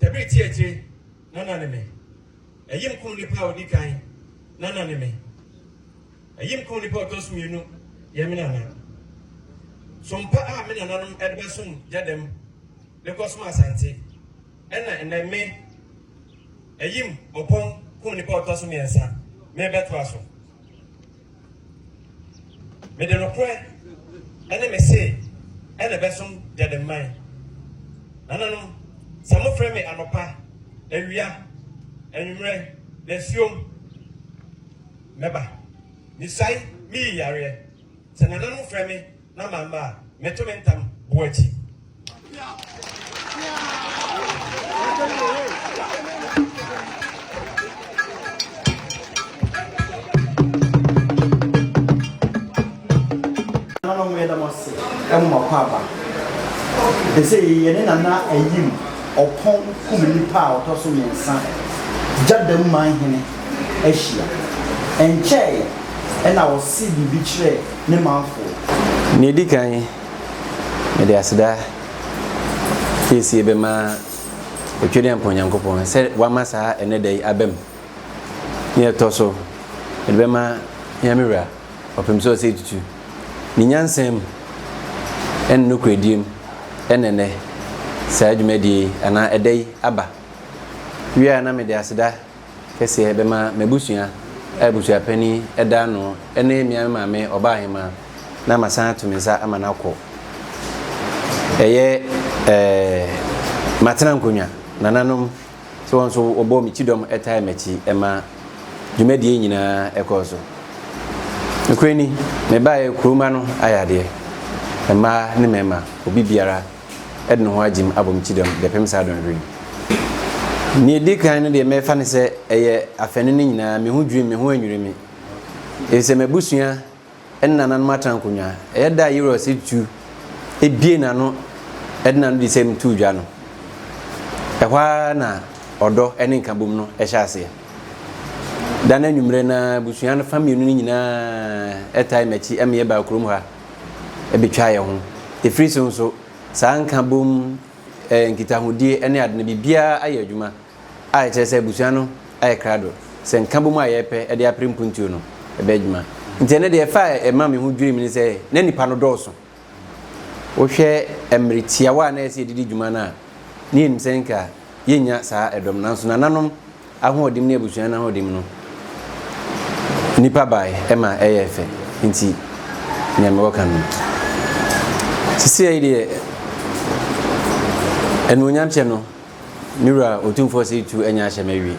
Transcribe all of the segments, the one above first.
Debiri ti akyire na na ne me. Ayim kum nipa a ɔdi kan na na ne me. Ayim kum nipa a ɔtɔ so mmienu yɛ me nana. Sompa a me nananom de bɛsom gya dam de kɔsom Asante ɛna ɛnɛ me Ayim Ɔpɔn kum nipa a ɔtɔ so mmiɛnsa merebɛtoa so. Mede nokorɛ ne me se na ɛbɛsom Gyademman. Nananom, sɛ mofrɛ me anɔpa, awia, anwummerɛ, dasuom, mɛba. Mesuae, meyi yareɛ. Sɛ nananom frɛ me. na mamma a, meto me ntam bo akyi. Nananom yɛ dɛm ase ɛmo ma kɔ aba. Ɛsɛ yɛ ne nana ayim ɔpɔn kum nipa a ɔtɔ so mmiɛnsa gya dɛm man hene ahyia. Ɛnkyɛe ɛna ɔse biribi kyerɛɛ ne manfoɔ. Nea edi kan, mede aseda kɛsie bɛma Otwedeɛmpɔn Nyankopɔn sɛ wama saa ɛnnɛ da yi abam. Nea ɛtɔ so, mede bɛma yɛn me Wura, Ɔpemsɛ Osei Tutu. Ne nyansa mu ne ne nokorɛdie mu na ɛnnɛ saa dwumadie yi anaa ɛda yi aba. Wie a na mede aseda. kɛseɛ bɛma m'abusua a abusua panin da ano ne me ara me maame ɔbaahemaa na masan ato me nsa ama no akɔ. Ɛyɛ eh, matena nkonnwa, nananom nso wɔn nso wɔbɔɔ me kyidɔm tae m'akyi ma dwumadie nyinaa ɛkɔɔ so. Nokorɛ ni, mebaeɛ kurom ha no ayɛ adeɛ, mmaa ne mmarima, obi biara. de ne ho agyem abɔ me kyidɔm de apem saa dɔnhwere yi. Nea edi kan no deɛ mɛfa no sɛ ɛyɛ afanu no nyinaa, me ho dwiriw me, me ho annwiri me, efisɛ m'abusua ne nananom atra nkonnwa. Ɛyɛ da a Yirus tu bue n'ano de n'anodisɛm too dwa no. Ɛhɔ ara na ɔdɔ ne nkabom no hyɛ aseɛ. Da no anwummere no ara, abusua no fa mmienu no nyinaa tae m'akyi ma yɛbaa kurom ha. bɛtwa yɛn ho. Ɛfiri so nso, saa nkabom, nkitahodie ne ade no, biribiara ayɛ adwuma a ɛkyerɛ sɛ abusua no ayɛ krado, sɛ nkabom a yɛrepɛ de apere mpuntuo no bɛyɛ adwuma. Nti ɛno deɛ ɛfa a ɛma me ho dwiri me ne sɛ, na nnipa no dɔɔso. Wohwɛ mmerɛ tiawa a na ɛsɛ sɛ yɛde di dwuma no a, na yɛnim sɛ nka yɛnnya saa dɔm no, nanso nananom Ahoɔdim ne abusua no ahoɔdim no nipa bae ma ɛyɛɛ fɛ nti nea mewɔ ka no. Sisiei deɛ anuonyam kyɛ no me wura otumfoɔ sɛ itu anya ahyɛ m'awie.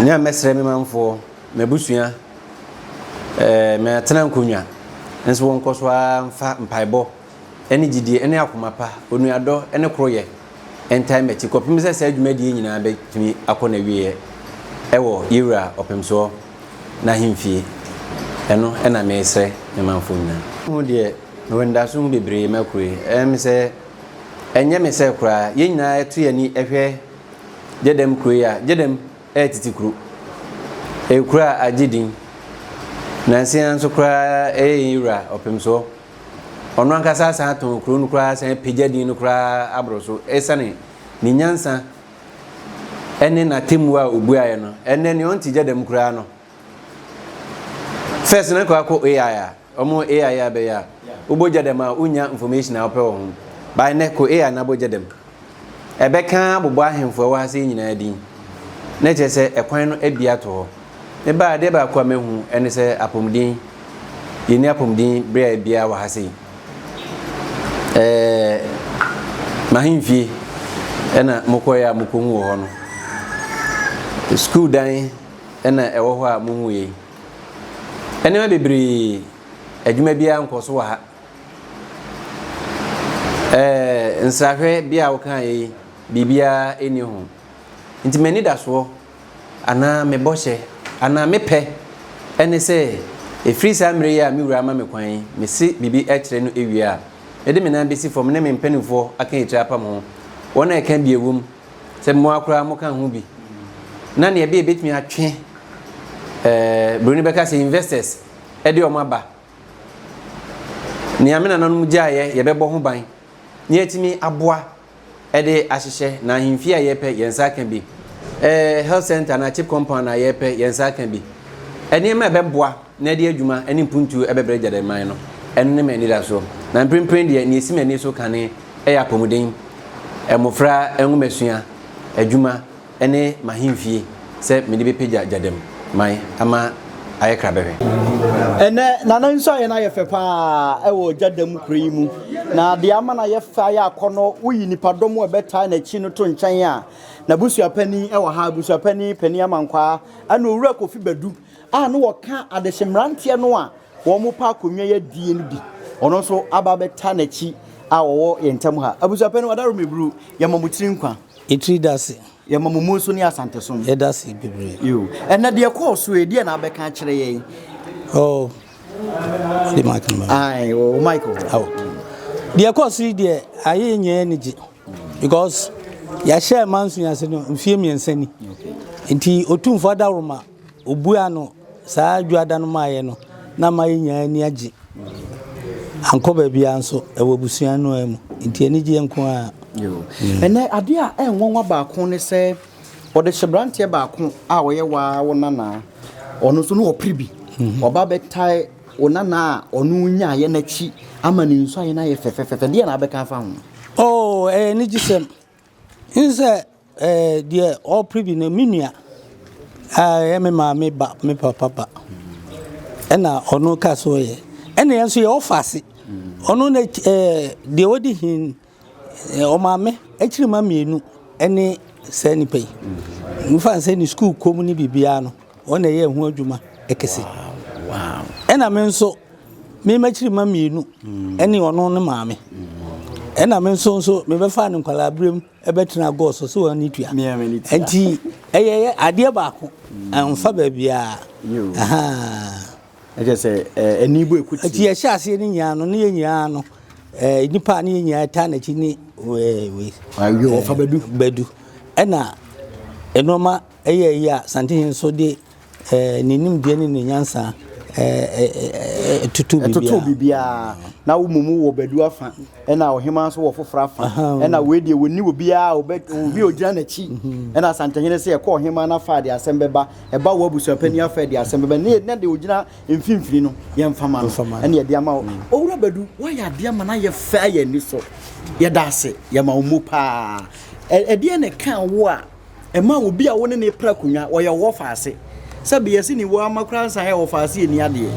Nea mɛsrɛ me manfoɔ, m'abusua, ɛɛ matena nkonnwa nso wɔnkɔ so ara mfa mpaebɔ ne gyidie ne akoma pa, onuadɔ ne koroyɛ ntaa m'akyi kɔpem sɛ saa dwumadie nyinaa bɛtumi akɔ n'awieɛ wɔ yɛ Wura Ɔpemsoɔ n'ahemfie. Ɛno na meresrɛ me manfoɔ nyinaa. Ho deɛ mewɔ anidaso ho bebree ma kuro yi. Ɛyɛ me sɛ ɛnyɛ me sɛ koraa yɛn nyinaa yɛto yɛn ani hwɛ Gyɛdɛm kuro yi a, Gyɛdɛm yɛ tete kuro. Ɛyɛ kuro a agye din. Nansa yi ara nso koraa ɛyɛ yɛn Wura Ɔpemsoɔ. Ɔno ankasa asan atɔn kuro no koraa asan apagya din no koraa aboro so esiane ne nyansa ne n'atemmuo a ɔbuaeɛ no. Ɛnnɛ nea ɔnte gya dɛm koraa no, first na kɔ akɔ AI a, ɔmo AI a bɛyɛ a, wobɔ gya dɛm a wonnya information a wopɛ wɔ ho. By nnɛ kɔ AI na bɔ gya dɛm. Ɛbɛka abobɔ ahemfo a ɛwɔ ha sɛɛ nyinaa din, na ɛkyerɛ sɛ ɛkwan no abue ato hɔ. Me ba, adeɛ baako a mahu ɛne sɛ apɔmuden, yɛnni apɔmuden berɛ biara wɔ ha sei. Ɛɛ, m'ahemfie ɛna mokɔeɛ a mokɔhu wɔ hɔ no. Sukuu dan ɛna ɛwɔ hɔ a mohu yei. Ɛnneɛma bebree, adwuma biara nkɔ so wɔ ha. Ɛɛ nsrahwɛ bi a wokaa yi biribiara ɛni ho nti m'anidasoɔ anaa me bɔhyɛ anaa me pɛ ɛne sɛ ɛfiri saa mmerɛ yi a me wura ama me kwan yi mese biribi ɛkyerɛ no ɛwie a mede me nan bɛsi fam ne me mpanimfoɔ aka ɛtiri apam ho wɔn a ɛka bi ɛwom sɛ mmoa koraa moka ho bi na neɛ ɛbɛ ɛbɛtumi atwe ɛɛ buroni bɛka sɛ investors ɛde wɔn aba Nea me nananom gyaeɛ, yɛbɛbɔ ho ban na yɛatumi aboa de ahyehyɛ, na ahemfie a yɛrepɛ, yɛn nsa aka bi. Eh, health center anaa chip compound a yɛrepɛ, yɛn nsa aka bi. Nneɛma a ɛbɛboa na ɛde adwuma ne mpuntuo ɛbɛbrɛ gyadɛmman no, ɛno ne m'anidasoɔ. Na mprempren deɛ, nea ɛsi m'ani so kane yɛ apɔmuden, mmofra nwomasua, adwuma, ne m'ahemfie sɛ mede bɛpagya gyadam man ama ayɛ krabɛhwɛ. Ɛnnɛ, Nana nso ayɛ no ayɛ fɛ pa ara wɔ gyadam kuro yi mu, na deɛ ama no ayɛ fɛ ayɛ akɔnnɔ, woyi nnipadɔm a ɛbɛtaa n'akyi no to nkyɛn a, n'abusua panin wɔ ha, abusua panin panin Amankwaa, ɛna Owura Kofi Badu a na ɔka adehye mmeranteɛ no a wɔpɛ akonnwa yi adie no bi, ɔno nso aba abɛtaa n'akyi a wɔwɔ yɛn ntam ha. Abusua panin, Ɔdaworo Meburu, yɛma mo tiri nkwa. Etri dase. Yɛma mo Monso ne Asantesom. Yɛdase bebree. Yoo. Ɛnna deɛ ɛkɔɔ so yi, deɛ na abɛka akyerɛ yɛn? Oh, de mic no. Aye, o oh, mic. Oh. Deɛ ɛkɔɔ so yi deɛ ayɛ nyɛ anigye because yɛahyɛ manso ase no mfie mmiɛnsa ni. Nti otumfoɔ adaworoma Obuaa no, Saa Dwoada no maayɛ no na ama yɛn nyinaa ani agye. Ankɔ baabiara nso, ɛwɔ abusua no ara mu, enti anigyeɛ nko ara. Ɛnnɛ, adeɛ a ɛyɛ nwanwa baako ne sɛ, wɔde hyɛ aberanteɛ baako a ɔyɛ wo ara wo nana, ɔno nso na ɔpere bi. Waba abɛtae wo nana a ɔne wo nyaeɛ no akyi ama ne nsuaeɛ no ayɛ fɛfɛɛfɛ. Deɛn na wobɛka afa ho? Oo, ɛyɛ anigyesɛm. N sɛ ɛɛ deɛ ɔrepere bi no, me nua a ɛyɛ me maame ba, me papa ba, ɛna ɔno ka so yɛ. Ɛna yɛn nso yɛwɔ faase. Ɔno na ɛɛ deɛ ɔdi hin ɔmaame akyiri mma mmienu ɛne saa nipa yi. Mefa no sɛ ne sukuu kɔm ne biribiara no. Wɔn na ɛyɛɛ ho adwuma kɛse. Ɛna me nso me mmakyirima mmienu ne ɔno ne maame. Ɛna me nso nso mebɛfaa no nkwadaa berɛm bɛtena gɔɔ so sɛ wɔn ani tua. Nti ɛyɛ adeɛ baako mfa baabiara. Ɛkyɛ sɛ ɛni bɔ ekuti. Ɛti ɛhyɛ aseɛ ne nyinaa no ne yɛ nyinaa no nipa ne yɛ nyinaa taa n'akyi ne wei. Ayo ɔfa bɛdu. Bɛdu ɛna nneɛma. Ɛyɛ eyi a, Santehene nso de ne nimdeɛ ne ne nyansa totoo biribiara. Ɛtotoo biribiara. Na wo mmom wowɔ Badu afa, ɛna ɔhemaa nso wɔ foforɔ afa. Ɛna wei deɛ wɔnni obiara a ɔbɛ obi a ɔgyina n'akyi. Ɛna Santehene sɛ ɛkɔ ɔhemaa no afa a deɛ asɛm bɛba, ɛba wo abusuapanin afa a deɛ asɛm bɛba. Ne na deɛ ɔgyina mfimfini no, yɛmfa ma no. Ɛna yɛde ama wo. Owura Badu, woayɛ adeɛ ama no ayɛ fɛ ayɛ ani so. Yɛda ase. Yɛma wo mmu paa. Ɛdeɛn na ɛkaa wo a ɛma obi a wo ne ne pra akonnwa, ɔyɛ wo ɔfaase. Sɛbe yɛse ne wɔ ama koraa nsa yɛ ɔfaase ɛni adeɛ.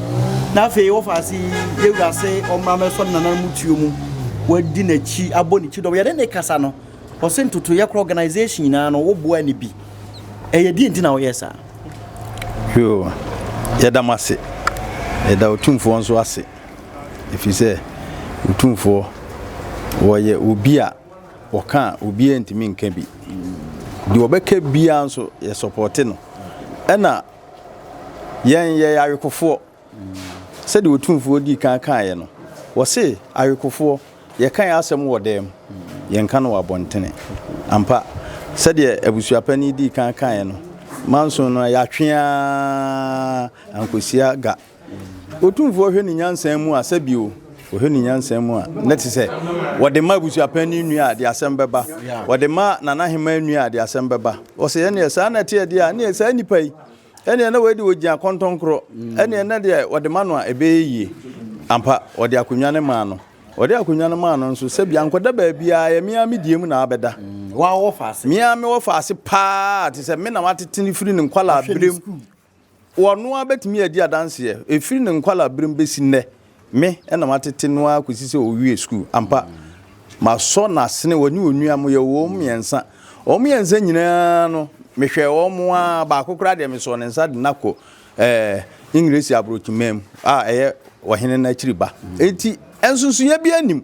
Na afei ɔfaase yi yɛwura ase ɔmmra mɛsɔ ne nananom mu tuo mu, wadi n'akyi, abɔ ne kyidɔm. Yɛne ne kasa no, ɔse ntotoeɛ koraa organisation nyinaa no wo boa ne bi. Ɛyɛ deɛ nti na woyɛ saa? Yoo, yɛda mo ase. Yɛda Otumfoɔ nso ase, ɛfiri sɛ Otumfoɔ, wɔyɛ obi a Wɔka a obiara ntumi nka bi. Deɛ ɔbɛka biara nso yɛ sɔpɔte no. Ɛna yɛn yɛyɛ awekofoɔ. Sɛdeɛ Otumfoɔ dii kan kaeɛ no, wɔse awekofoɔ yɛka yɛn asɛm wɔ dan mu, yɛnka no wɔ abɔntene. Ampa, sɛdeɛ abusuapanin dii kan kaeɛ no, Manson no yɛatwe ara ankɔsi aga. Otumfoɔ hwɛ ne nyansa mu a, sɛbi o, ɔhwɛ ne nyansa mu a, na te sɛ wɔde ma abusuapanyin nua a, de asɛm bɛba. Wɔde ma Nana Hemaa nua a, de asɛm bɛba. Ɔsɛ ɛneɛ saa na ɛteɛ deɛ a, ɛneɛ saa nipa yi, ɛneɛ na wei deɛ ɔgyina kɔntɔnkorɔ, ɛneɛ na deɛ wɔde ma no a, ɛbɛyɛ yie. Ampa, wɔde akonnwa no maa no. Wɔde akonnwa no maa no nso, sɛbi ankɔda baabiara, ɛyɛ me ara me deɛ mu na abɛda. Me ara mewɔ faase paa, te sɛ me na watete no firi ne nkwadaa berɛ mu. Ɔno ara bɛtumi adi adanseɛ, ɛfiri ne nkwalaaberem bɛsi nnɛ, me na matete no ara kɔsi sɛ ɔwiee sukuu. Ampa, masɔ n'asene, ɔne onua, moyɛ wɔn mmiɛnsa. Wɔn mmiɛnsa nyinaa no, mehwɛɛ wɔn ara, baako koraa deɛ mesɔɔ ne nsa de no akɔ Engiresi aborɔkyimaa mu, a ɛyɛ ɔhene no akyiri ba. Enti, nsonsonoeɛ biara nnim.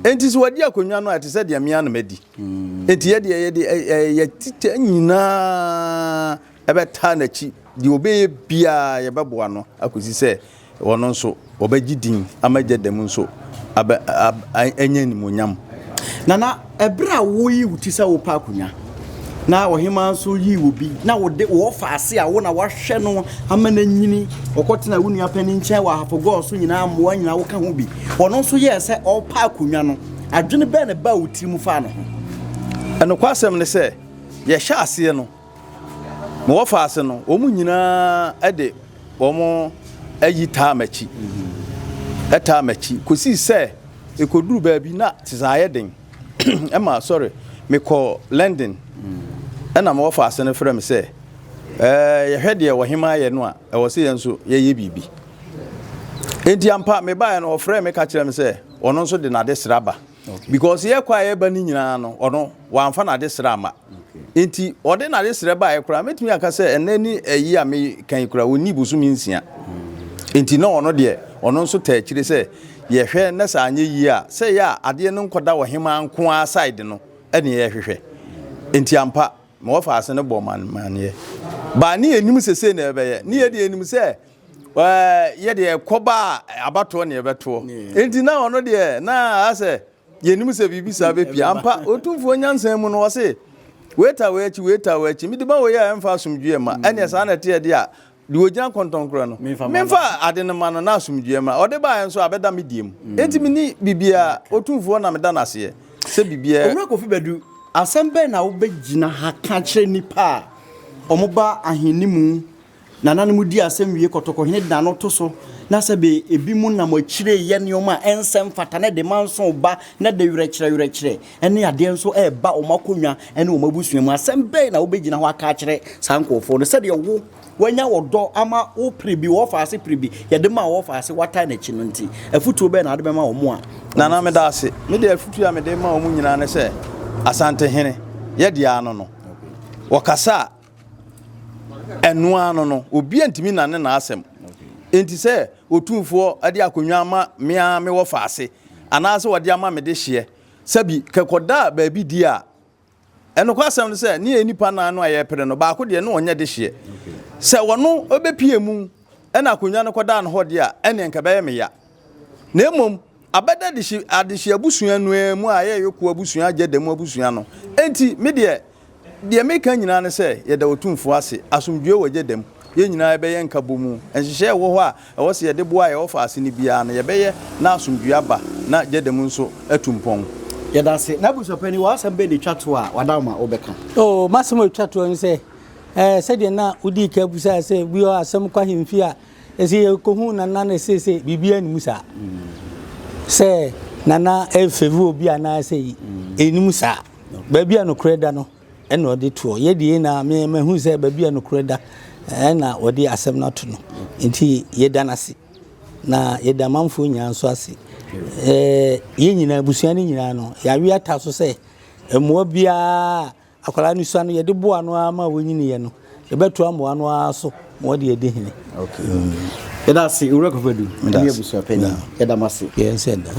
Enti sɛ wɔadi akonnwa no a, ɛte sɛ deɛ me ara na madi. Enti yɛdeɛ, yɛde, ɛyɛ yɛn tikya nyinaa. bɛtaa n'akyi. Deɛ ɔbɛyɛ biara, yɛbɛboa no akɔsi sɛ ɔno nso ɔbɛgye din ama agya da mu nso abɛ, ab, anya animuonyam. Nana, ɛberɛ a woyi wo ti sɛ wopɛ akonnwa, na ɔhemaa nso yi wo bi, na wode wo ɔfa ase a wo na wahwɛ no ama no anyini, ɔkɔtena wo nua panin nkyɛn wɔ Ahapogɔɔ so nyinaa, mmoa nyinaa woka ho bi. Ɔno nso yɛɛ sɛ ɔrepɛ akonnwa no, adwene bɛn na ɛbaa wo tirim faa ne ho? Nokwasɛm ne sɛ, yɛhyɛɛ aseɛ no, Mewɔ faa ase no, wɔn nyinaa de wɔn ayi taa m'akyi, taa m'akyi, kosii sɛ ekoduru baabi na tisa ayɛ den ma sɔre mekɔ London. Ɛna mewɔ faa ase no frɛ me sɛ, Ɛɛ, yɛhwɛ deɛ ɔhemaa yɛ no a, ɛwɔ sɛ yɛn nso yɛyɛ biribi. Enti ampa, mebaeɛ no, ɔfrɛɛ me ka kyerɛɛ me sɛ ɔno nso de n'adesrɛ aba. Because yɛkɔ a yɛba no nyinaa no ɔno wamfa n'adesrɛ ama. Enti ɔde n'adesrɛ baeɛ koraa mɛtumi aka sɛ ɛnnɛ ne ɛyi a meka yi koraa ɔnni bosome nsia. Enti na ɔno deɛ ɔno nso taa akyire sɛ yɛhwɛ na sɛ anyɛ yie a sɛ ɛyɛ a adeɛ no nkɔda ɔhemaa nko ara side no ne yɛhwehwɛ. Enti ampa mewɔ faase no bɔɔ me amaneɛ. But ne yɛnnim sɛ sei na ɛbɛyɛ. Ne yɛdeɛ yɛnim sɛ yɛ deɛ ɛkɔba a abatoɔ ne ɛbɛtoɔ nti na ɔno deɛ na asɛ yɛnim sɛ biribi saa bɛpie ampa ɔtumfoɔ nyansa mu no ɔse weita wei akyi weita wei akyi mede ma wei a ɛmfa asomdwoeɛ ma ɛneɛ saa na ɛteɛ deɛ a deɛ ɔgyina kɔntɔnkorɔ no memfa ade no ma no na asomdwoeɛ ma ɔde baeɛ nso abɛda me deɛ mu nti meni biribiara ɔtumfoɔ na meda no aseɛ sɛ biribiara Owura Kofi Badu, asɛm bɛn na wobɛgyina ha ka kyerɛ nnipa a wɔba ahenni mu Nananom di asɛm wie kɔtɔkɔhene de n'ano to so, na sɛbee ebinom nam akyire yɛ nneɛma a ɛnsɛ mfata na ɛde manso ba na ɛde werɛkyerɛwerɛkyerɛ ne adeɛ nso reba wɔn akonnwa ne wɔn abusua mu. Asɛm bɛn na wobɛgyina hɔ aka akyerɛ saa nkurɔfoɔ no? Sɛdeɛ wo, woanya ɔdɔ ama wo pere bi, wɔfa ase pere bi, yɛde maa wɔfa ase, woatae no akyi no nti, afotuo bɛn na wode bɛma wɔn a wɔn. Nana, meda ase. Me deɛ afotuo a mede rema wɔn nyinaa ne sɛ, Asantehene, yɛ deɛ ano no. Wɔkasa a, Ɛno ara no no, obi antumi nnane n'asɛm. Enti sɛ Otumfoɔ de akonnwa ama me ara me wɔfaase, anaasɛ ɔde ama me de hyeɛ, sɛbi kɛkɔda baabi di a, nokwasɛm ne sɛ, ne yɛn nnipa nnan no a yɛrepere no, baako deɛ, na ɔnyɛ de hyeɛ. Sɛ ɔno bɛpue mu na akonnwa no kɔdaa no hɔ deɛ a, ɛnneɛ anka ɛbɛyɛ me ya. Na mmom, Abɛda adehye adehye abusua no ara mu a yɛyɛ Yoko abusua, agya da mu abusua no. Enti, me deɛ, deɛ mereka nyinaa ne sɛ, yɛda Otumfoɔ ase. Asomdwoeɛ wɔ agya da mu. Yɛn nyinaa yɛbɛyɛ nkabɔmu. Nhyehyɛeɛ a ɛwɔ hɔ a ɛwɔ sɛ yɛde boa a yɛwɔ fa ase no biara no, yɛbɛyɛ na asomdwoeɛ aba na agya da mu nso atu mpɔn. Yɛda ase. N'abusuapanin, w'asɛm bɛn na ɛtwa toɔ a w'ada wo ma wobɛka? Oo, m'asɛm a ɛtwa toɔ ne sɛ, ɛɛ, sɛdeɛ na wodii kan bisaeɛ sɛ, bi wɔ hɔ a asɛm kɔ ahemfie a, Ese yɛkɔhuu Nana no seesei biribiara nni mu saa. Sɛ Nana refavor obi anaa sei, ɛnni mu saa. Baabi a nokorɛ da no na ɔde toɔ. Yɛ deɛ yɛ nyinaa, me mahu sɛ baabi a nokorɛ da na ɔde asɛm no ato no. Nti yɛda no ase. Na yɛda amanfoɔ nyinaa nso ase. Yɛ nyinaa, abusua no nyinaa no, yɛawe ata so sɛ mmoa biara a Akwadaa no sua no, yɛde boa no ara ma ɔnyiniiɛ no, yɛbɛtoa mmoa no ara so ma ɔde adi hene. Yɛda ase, Owura Kofoadu, ne abusua panyin. Yɛda mo ase. Yɛn sɛ ɛda.